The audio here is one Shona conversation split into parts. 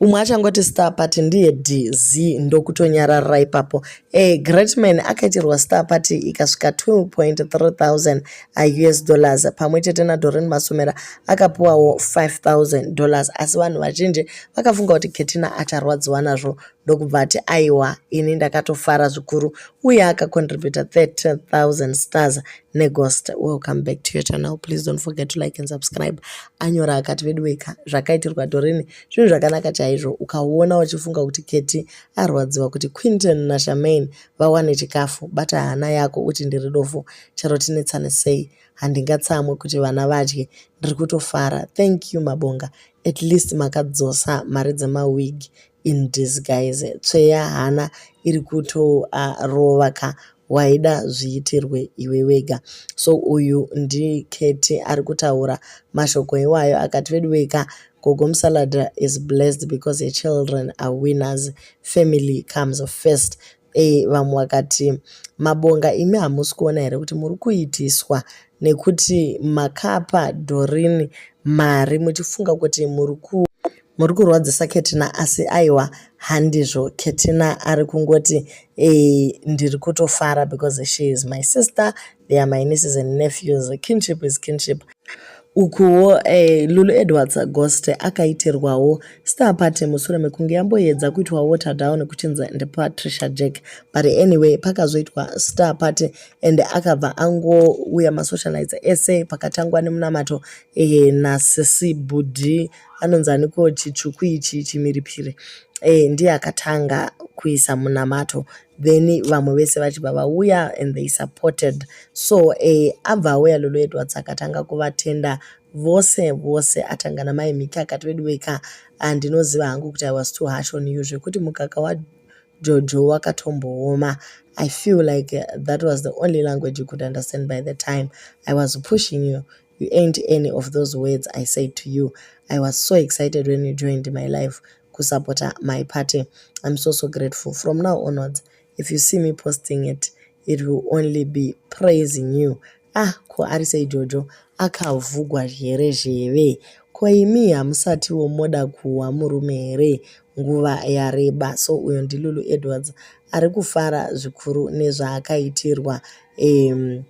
umwe achangoti star party ndiye dz ndokutonyarara ipapo e greatman akaitirwa star party ikasvika 2.3000 us dollars pamwe chete nadoren masomera akapiwawo 5000 dollars asi vanhu vazhinji vakafunga kuti ketina acharwadziwa nazvo ndokubva ati aiwa ini ndakatofara zvikuru uye akacontributa 30000 stars neghost welcome back to your channel please don't forget to like and subscribe anyora akati veduweka zvakaitirwa dorini zvinhu zvakanaka chaizvo ukaona uchifunga kuti keti arwadziwa kuti quinton nashamain vawane chikafu bata hana yako uti ndiri dofo chero tinetsane sei handingatsamwe kuti vana vadye ndiri kutofara thank you mabonga at least makadzosa mari dzemawig in disguise tsve yahana iri kutorova ka waida zviitirwe iwe wega so uyu ndiketi ari kutaura mashoko iwayo akati veduwei ka gogo musalada is blessed because her children are winners family comes first Eh, vamwe vakati mabonga imi hamusi kuona here kuti muri kuitiswa nekuti makapa dorini mari muchifunga kuti muri ku muri kurwadzisa ketina asi aiwa handizvo ketina ari kungoti e, ndiri kutofara because she is my sister they are my nieces and nephews kinship is kinship Ukuwo eh, Lulu Edwards Agoste akaitirwawo star party mushure mekunge yamboedza kuitwa water down kuchinzi ndiPatricia Jack but anyway pakazoitwa star party and akabva angouya masocialites ese pakatangwa nemunamato eh, nasisi Budi anonzi aniko chitsvuku ichi chimiripiri eh, ndiye akatanga kuisa munamato then vamwe vese vachibva vauya and they supported so eh, abva auya lolo edwards akatanga kuvatenda vose vose atanga namai mhiki akati veduweka handinoziva ah, hangu kuti i was too harsh on you zvekuti mukaka wajojo wakatombooma i feel like eh, that was the only language you could understand by the time i was pushing you you ain't any of those words i said to you i was so excited when you joined my life kusupporta my party I'm so so grateful from now onwards if you see me posting it it will only be praising you ah ko ari sei jojo akavhugwa here zheve ko imi hamusatiwo moda kuwa murume here nguva yareba so uyo ndilulu edwards ari kufara zvikuru nezvaakaitirwa um,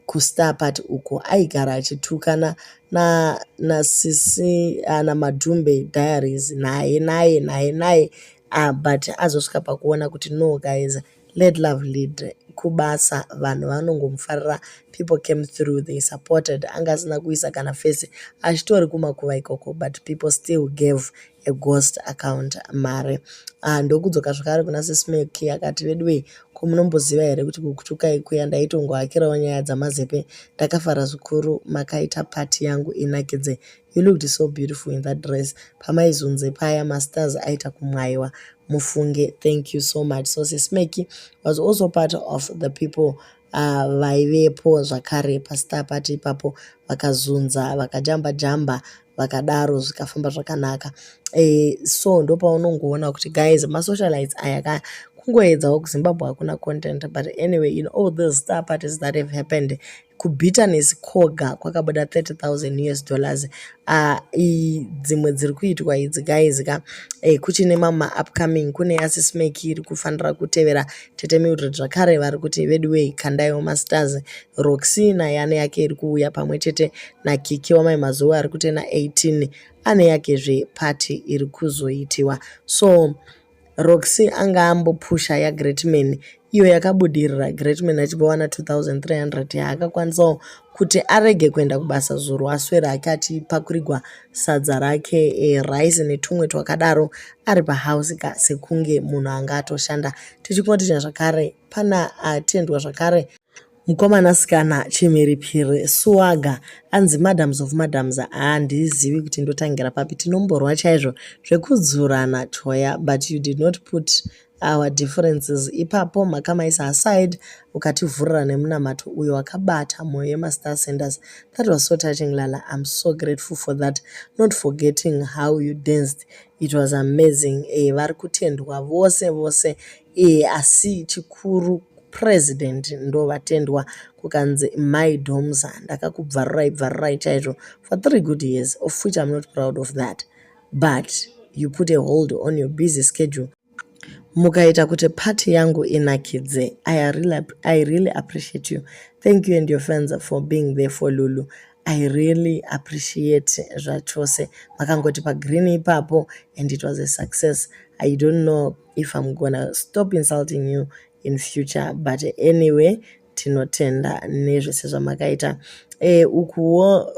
kustar party uko aigara achitukana na na sisi uh, na madhumbe diaries naye naye naye naye uh, but azosvika pakuona kuti no guys let love lead kubasa vanhu vanongomufarira people came through they supported anga asina kuisa kana face achitori kumakuva ikoko but people still gave a ghost account mari ah, ndokudzoka zvakare kuna sismeki akati veduwei ko munomboziva here kuti kukutuka ikuya ndaitongohakirawo nyaya dzamazepe ndakafara zvikuru makaita pati yangu inakidze you looked so beautiful in that dress pamaizunze paya masters aita kumwaiwa mufunge thank you so much so sismeki was also part of the people Ah, vaivepo zvakare pasita pati ipapo vakazunza vakajamba jamba vakadaro zvikafamba zvakanaka e, so ndopaunongoona kuti guys masocialites aya ka kungoedzawo kuzimbabwe hakuna content but anyway in all those star parties that have happened kubitterness koga kwakabuda 30000 us dollars uh, dzimwe dziri kuitwa idzi guys ka eh, kuchine mama upcoming kune yasismake iri kufanira kutevera tete mildred zvakare vari kuti veduwei kandaiwo masters Roxy naye ane yake iri kuuya pamwe chete naKiki wamai mazuva ari kuita na 18 ane yakezve party iri kuzoitiwa so Roxy anga ambopusha yaGreatman iyo yakabudirira Greatman achibva wana 2300 yaakakwanisawo kuti arege kuenda kubasa zuro aswere hake achipakurigwa sadza rake e, rice netumwe twakadaro ari pahouse ka sekunge munhu anga atoshanda tichikunotinya zvakare pana atendwa zvakare Mukomanasikana chimhiripiri swaga anzi madams of madams handizivi kuti ndotangira papi tinomborwa chaizvo zvekudzurana choya but you did not put our differences ipapo makamaisa aside ukativhurira nemunamato uyo wakabata mwoyo yemastar senders that was so touching lala im so grateful for that not forgetting how you danced it was amazing e eh, vari kutendwa vose vose Eeh asi chikuru president ndovatendwa kukanzi mai domza ndakakubvarurai bvarurai chaizvo for three good years of which i'm not proud of that but you put a hold on your busy schedule mukaita kuti party yangu inakidze I really, i really appreciate you thank you and your fans for being there for lulu i really appreciate zvachose makangoti pagreen ipapo and it was a success i don't know if I'm gonna stop insulting you in future but anyway tinotenda nezvese zvamakaita e, ukuwo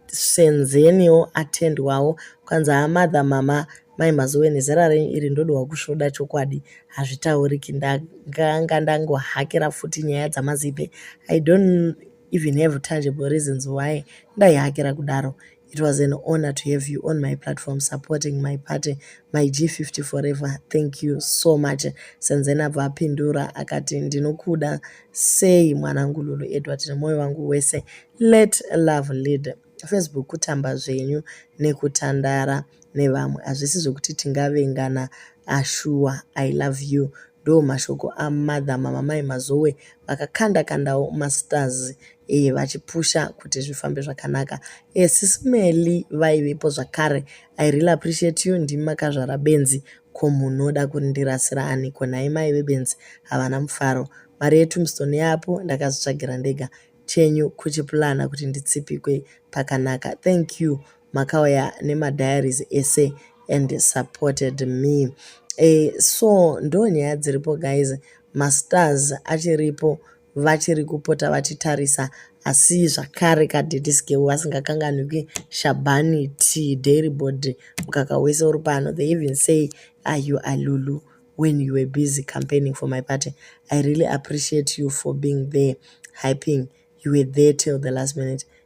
senzeniwo atendwawo kwanzi amadha mama mai mazuwe nezera renyu iri ndodowa kusvoda chokwadi hazvitauriki ndanga ndangohakira futi nyaya dzamazipe i don't even have tangible reasons why ndaihakira kudaro It was an honor to have you on my platform supporting my party my G50 forever thank you so much Senzeni abva apindura akati ndinokuda sei mwanangu Lulu Edward nemoyo wangu wese let love lead Facebook kutamba zvenyu nekutandara nevamwe hazvisi zvekuti tingavengana ashuwa I love you ndo mashoko amother mamamai mazowe vakakanda kandawo masters e, vachipusha kuti zvifambe zvakanaka e, eh, sisimeli vaivepo zvakare i really appreciate you ndimi makazvara benzi ko munhu oda kurindirasira ani ko nhai mai vebenzi havana mufaro mari yetumstone yapo ndakazvitsvagira ndega chenyu kuchipulana kuti nditsipikwe pakanaka thank you makauya nemadiaries ese and supported me e, so ndo nyaya dziripo guys mastars achiripo vachiri kupota vachitarisa asi zvakare kadediskewo vasingakanganwiki shabhani t dairy body mukaka wese uri pano they even say are you alulu when you were busy campaigning for my party i really appreciate you for being there hyping you were there till the last minute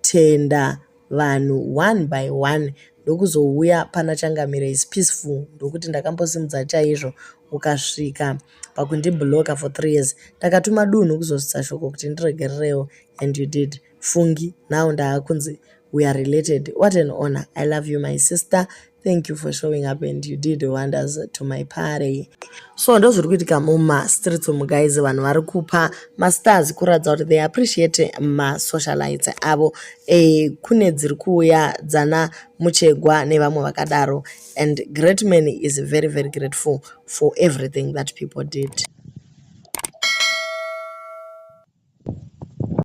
Tenda vanhu one by one ndokuzouya pana Changamire is peaceful ndokuti ndakambosimudza chaizvo ukasvika pakundibloka for three years ndakatuma dunhu kuzosvitsa shoko kuti ndiregererewo and you did fungi now ndaakunzi we are related what an honor i love you my sister Thank you for showing up and you did wonders to my party. So ndozviri kuitika muma streets umu guys vanhu vari kupa mastars kuratidza kuti they appreciate masocialites avo e, kune dziri kuuya dzana muchegwa nevamwe vakadaro and great man is very very grateful for everything that people did.